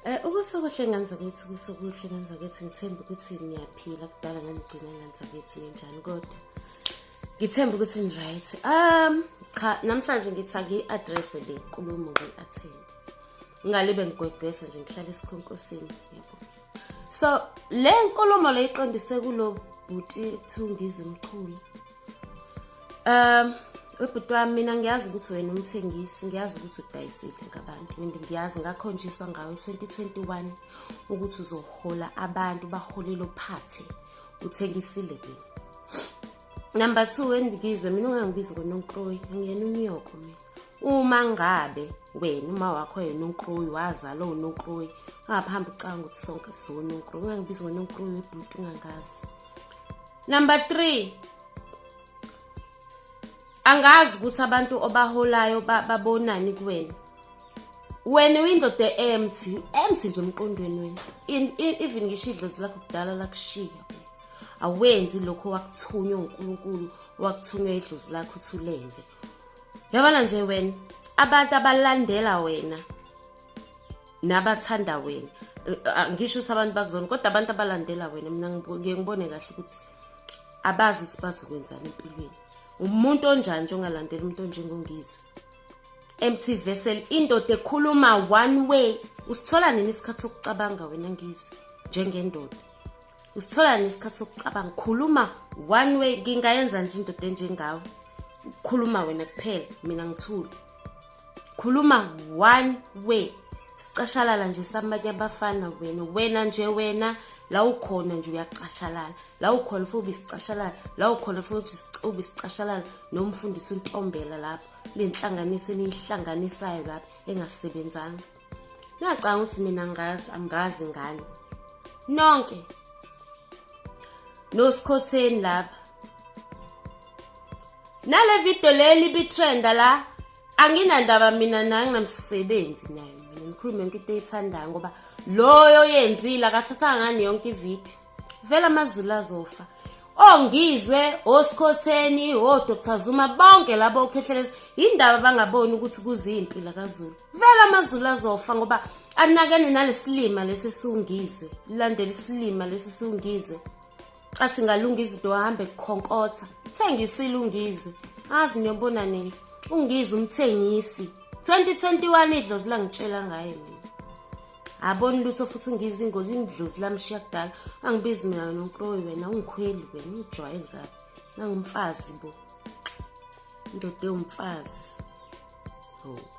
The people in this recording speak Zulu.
Eh ukusokuhle ngenza ukuthi kusokuhle ngenza ukuthi ngithemba ukuthi ngiyaphila kudala nganigcina ngenza ukuthi ngenjani kodwa ngithemba ukuthi ni right um cha namhlanje ngithi angiyi-address le nkulumo ngiyi-attend ngale bengigwegwesa nje ngihlale esikhonkosini yebo so le nkulumo le iqondise kulo bhuti thungiza umchunu Um webhuti wami mina ngiyazi ukuthi wena umthengisi ngiyazi ukuthi udayisile ngabantu and ngiyazi ngakhonjiswa ngawe 2021 ukuthi uzohola abantu bahole lo phathe uthengisile mina number two wendibizwe mina ungangibizi ngononkroyi angiyena unyoko mina uma ngabe wena uma wakho yena unkruyi wazala unonkruyi ungaphambi ucanga ukuthi sonke siwononkruyi ungangibizi ngononkruyi webhuti ungangazi number three angazi ukuthi abantu obaholayo babonani kuwena wena uyindoda empty empty nje emqondweni wena even ngisho idlozi lakho kudala lakushiya awenzi lokho wakuthunywa uNkulunkulu wakuthunywa idlozi lakho uthi ulenze yabona nje wena abantu abalandela wena nabathanda wena ngisho ukuthi abantu bakuzona kodwa abantu abalandela wena mina ngiye ngibone kahle ukuthi abazi ukuthi bazokwenzani empilweni umuntu onjani nje ongalandela umuntu onjengongizwe MT Vessel indoda ekhuluma one way usithola nini isikhathi sokucabanga wena ngizwe njengendoda usithola nesikhathi sokucabanga khuluma one way ngingayenza nje indoda enjengawe khuluma wena kuphela mina ngithule khuluma one way sicashalala nje samanye abafana wena wena nje wena la ukhona nje uyacashalala la ukhona futhi ubisicashalala la ukhona futhi ubisicashalala noma ufundisa untombela lapho lenhlanganiso eniyihlanganisayo lapho engasebenzanga nacanga ukuthi mina ngazi angazi ngani nonke nosikhotheni lapha nale video leli bitrenda la anginandaba mina naye nginamsebenzi naye mina ngikhulume yonke into eyithandayo ngoba loyo yenzile akathatha ngani yonke ivideo vele amazulu azofa ongizwe osikhotheni odr zuma bonke labo okhehlela indaba bangaboni ukuthi kuziyimpi lakazulu vele amazulu azofa ngoba anakene nalesilima lesi siwungizwe lilandela isilima lesi siwungizwe asingalunga izinto ahambe kukhonkotha thengisile ungizwe azi niyobona nini ungizwe umthengisi 2021 idlozi langitshela ngaye mina aboni lutho futhi ungizwe ingozi indlozi lamshiya kudala angibizi mina wena unkroyi wena ungikhweli wena ungijwayeli kabi nangumfazi bo ndoda ewumfazi oh